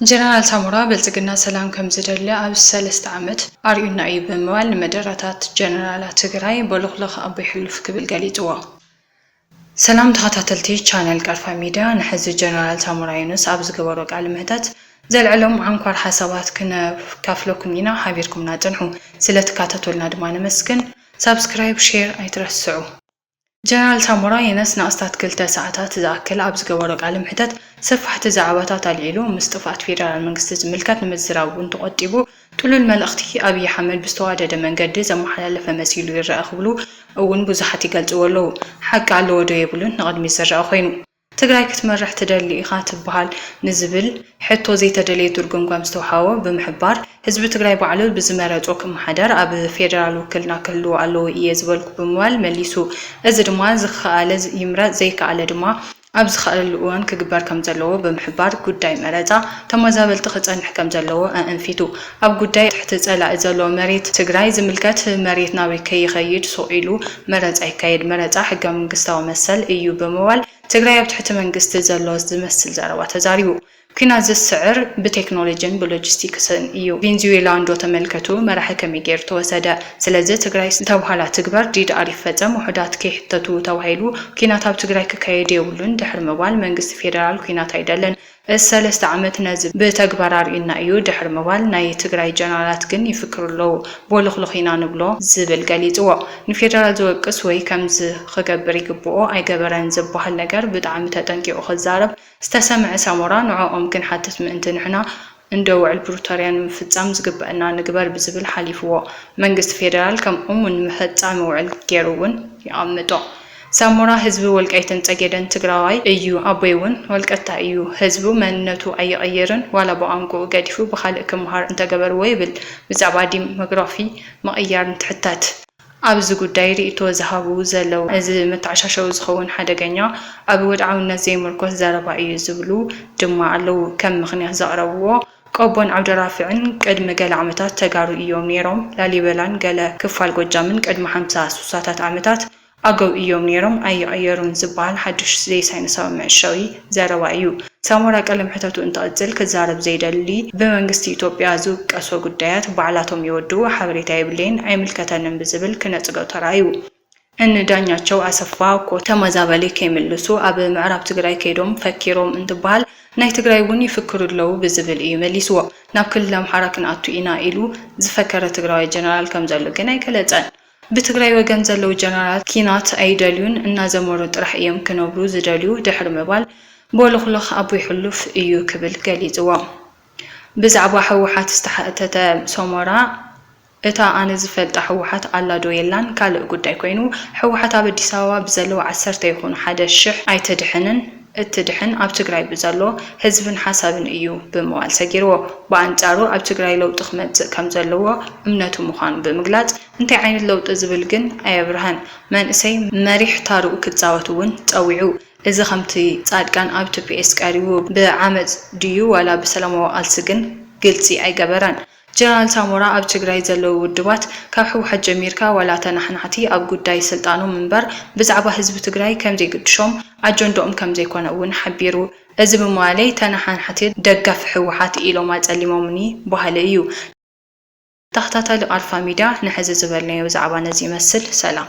ጀነራል ሳሞራ ብልፅግና ሰላም ከምዝደሊ ኣብዚ ሰለስተ ዓመት ኣርእዩና እዩ ብምባል ንመደረታት ጀነራላት ትግራይ ቦሎኽሎኽ ኣቦይ ሕሉፍ ክብል ገሊፅዎ። ሰላም ተኸታተልቲ ቻነል ቀርፋ ሚድያ ንሕዚ ጀነራል ሳሞራ የኑስ ኣብ ዝገበሮ ቃለ መሕተት ዘልዐሎም ዓንኳር ሓሳባት ክነካፍለኩም ኢና ሓቢርኩምና ፅንሑ። ስለትካታተሉና ድማ ነመስግን። ሳብስክራይብ ሼር ኣይትረስዑ። ጀነራል ሳሞራ የኑስ ንኣስታት ክልተ ሰዓታት ዝኣክል ኣብ ዝገበሮ ቃለ መሕተት ሰፋሕቲ ዛዕባታት ኣልዒሉ ምስ ጥፍኣት ፌደራል መንግስቲ ዝምልከት ንምዝራብ እውን ተቖጢቡ ጥሉል መልእኽቲ ኣብይ ኣሕመድ ብዝተዋደደ መንገዲ ዘመሓላለፈ መሲሉ ይረኣ ክብሉ እውን ብዙሓት ይገልፅዎ ኣለው ሓቂ ኣለዎ ዶ የብሉን ንቕድሚት ዝረኣ ኮይኑ ትግራይ ክትመርሕ ትደሊ ኢኻ ትበሃል ንዝብል ሕቶ ዘይተደለየ ድርጎምጓም ዝተውሃቦ ብምሕባር፣ ህዝቢ ትግራይ ባዕሉ ብዝመረፆ ክመሓደር ኣብ ፌደራል ውክልና ክህልዎ ኣለዎ እየ ዝበልኩ ብምባል መሊሱ። እዚ ድማ ዝኸኣለ ይምረፅ ዘይከኣለ ድማ ኣብ ዝኸኣለሉ እዋን ክግበር ከምዘለዎ ብምሕባር ጉዳይ መረፃ ተመዛበልቲ ክፀንሕ ከምዘለዎ ኣእንፊቱ። ኣብ ጉዳይ ትሕቲ ፀላኢ ዘሎ መሬት ትግራይ ዝምልከት መሬት ናበይ ከይኸይድ ሱቕ ኢሉ መረፃ ይካየድ፣ መረፃ ሕገ መንግስታዊ መሰል እዩ ብምባል ትግራይ ኣብ ትሕቲ መንግስቲ ዘሎ ዝመስል ዘረባ ተዛሪቡ። ኲናት ዝስዕር ብቴክኖሎጂን ብሎጂስቲክስን እዩ። ቬንዙዌላ እንዶ ተመልከቱ መራሒ ከመይ ገይሩ ተወሰደ። ስለዚ ትግራይ ዝተብሃላ ትግበር፣ ዲድኣር ይፈፀም፣ ውሑዳት ከይሕተቱ ተባሂሉ ኲናት ኣብ ትግራይ ክካየድ የብሉን ድሕሪ ምባል መንግስቲ ፌደራል ኲናት ኣይደልን፣ ሰለስተ ዓመት ነዚ ብተግባር ኣርእዩና እዩ ድሕሪ ምባል ናይ ትግራይ ጀነራላት ግን ይፍክሩ ኣለዉ። ቦሎኽሎኽ ኢና ንብሎ ዝብል ገሊጽዎ። ንፌደራል ዝወቅስ ወይ ከምዚ ክገብር ይግብኦ ኣይገበረን ዝበሃል ነገር ብጣዕሚ ተጠንቂቑ ክዛረብ ዝተሰምዐ ሳሞራ ንዖኦም ክንሓትት ምእንቲ ንሕና እንዶ ውዕል ፕሩቶርያ ንምፍጻም ዝግበእና ንግበር ብዝብል ሓሊፍዎ። መንግስቲ ፌደራል ከም እሙን መፈጻሚ ውዕል ጌሩ እውን የቐምጦ። ሳሞራ ህዝቢ ወልቃይትን ፀጌደን ትግራዋይ እዩ ኣቦይ እውን ወልቀታይ እዩ ህዝቡ መንነቱ ኣይቕይርን ዋላ ብቋንቁኡ ገዲፉ ብኻልእ ክምሃር እንተገበርዎ ይብል ብዛዕባ ዲሞግራፊ ምቕያር እንትሕተት ኣብዚ ጉዳይ ሪኢቶ ዝሃቡ ዘለው እዚ መተዓሻሸዊ ዝኸውን ሓደገኛ ኣብ ወድዓውነት ዘይምርኮስ ዘረባ እዩ ዝብሉ ድማ ኣለው ከም ምኽንያት ዘቕረብዎ ቆቦን ዓብደራፍዕን ቅድሚ ገለ ዓመታት ተጋሩ እዮም ነይሮም ላሊበላን ገለ ክፋል ጎጃምን ቅድሚ ሓምሳ ሱሳታት ዓመታት ኣገው እዮም ነይሮም ኣይቕየሩን ዝበሃል ሓድሽ ዘይሳይንሳዊ መዕሸዊ ዘረባ እዩ። ሳሞራ ቀለ መሕተቱ እንትቕጽል ክዛረብ ዘይደሊ ብመንግስቲ ኢትዮጵያ ዝውቀሶ ጉዳያት ባዕላቶም ይወድኡ ሓበሬታ የብለይን ኣይምልከተንን ብዝብል ክነጽጎ ተራእዩ። እኒ ዳኛቸው ኣሰፋ እኮ ተመዛበሊ ከይምልሱ ኣብ ምዕራብ ትግራይ ከይዶም ፈኪሮም እንትበሃል ናይ ትግራይ እውን ይፍክሩ ኣለዉ ብዝብል እዩ መሊስዎ። ናብ ክልል ኣምሓራ ክንኣቱ ኢና ኢሉ ዝፈከረ ትግራዋይ ጀነራል ከምዘሎ ግን ኣይገለጸን። ብትግራይ ወገን ዘለዉ ጀነራላት ኪናት ኣይደልዩን እናዘመሩ ጥራሕ እዮም ክነብሩ ዝደልዩ ድሕሪ ምባል ቦሎኽሎኽ ኣቦይ ሕሉፍ እዩ ክብል ገሊፅዎ። ብዛዕባ ህወሓት ዝተሓተተ ሶሞራ እታ ኣነ ዝፈልጣ ህወሓት ኣላ ዶ የላን ካልእ ጉዳይ ኮይኑ ህወሓት ኣብ ኣዲስ ኣበባ ብዘለዉ ዓሰርተ ይኹኑ ሓደ ሽሕ ኣይተድሕንን፣ እትድሕን ኣብ ትግራይ ብዘሎ ህዝብን ሓሳብን እዩ ብምባል ሰጊርዎ። ብኣንፃሩ ኣብ ትግራይ ለውጢ ክመፅእ ከምዘለዎ እምነቱ ምዃኑ ብምግላፅ እንታይ ዓይነት ለውጢ ዝብል ግን ኣየብረሀን። መንእሰይ መሪሕ ታርኡ ክፃወት እውን ፀዊዑ። እዚ ከምቲ ፃድቃን ኣብ ቱፒኤስ ቀሪቡ ብዓመፅ ድዩ ዋላ ብሰላማዊ ቓልሲ ግን ግልፂ ኣይገበረን። ጀነራል ሳሞራ ኣብ ትግራይ ዘለዉ ውድባት ካብ ህወሓት ጀሚርካ ዋላ ተናሓናሕቲ ኣብ ጉዳይ ስልጣኖም እምበር ብዛዕባ ህዝቢ ትግራይ ከምዘይግድሾም ኣጀንድኦም ከምዘይኮነ እውን ሓቢሩ። እዚ ብምባለይ ተናሓናሕቲ ደገፍቲ ህወሓት ኢሎም ኣፀሊሞምኒ በሃሊ እዩ። ተኸታታሊ ቃልፋ ሚድያ ንሐዚ ዝበልናዮ ብዛዕባ ነዚ ይመስል ሰላም።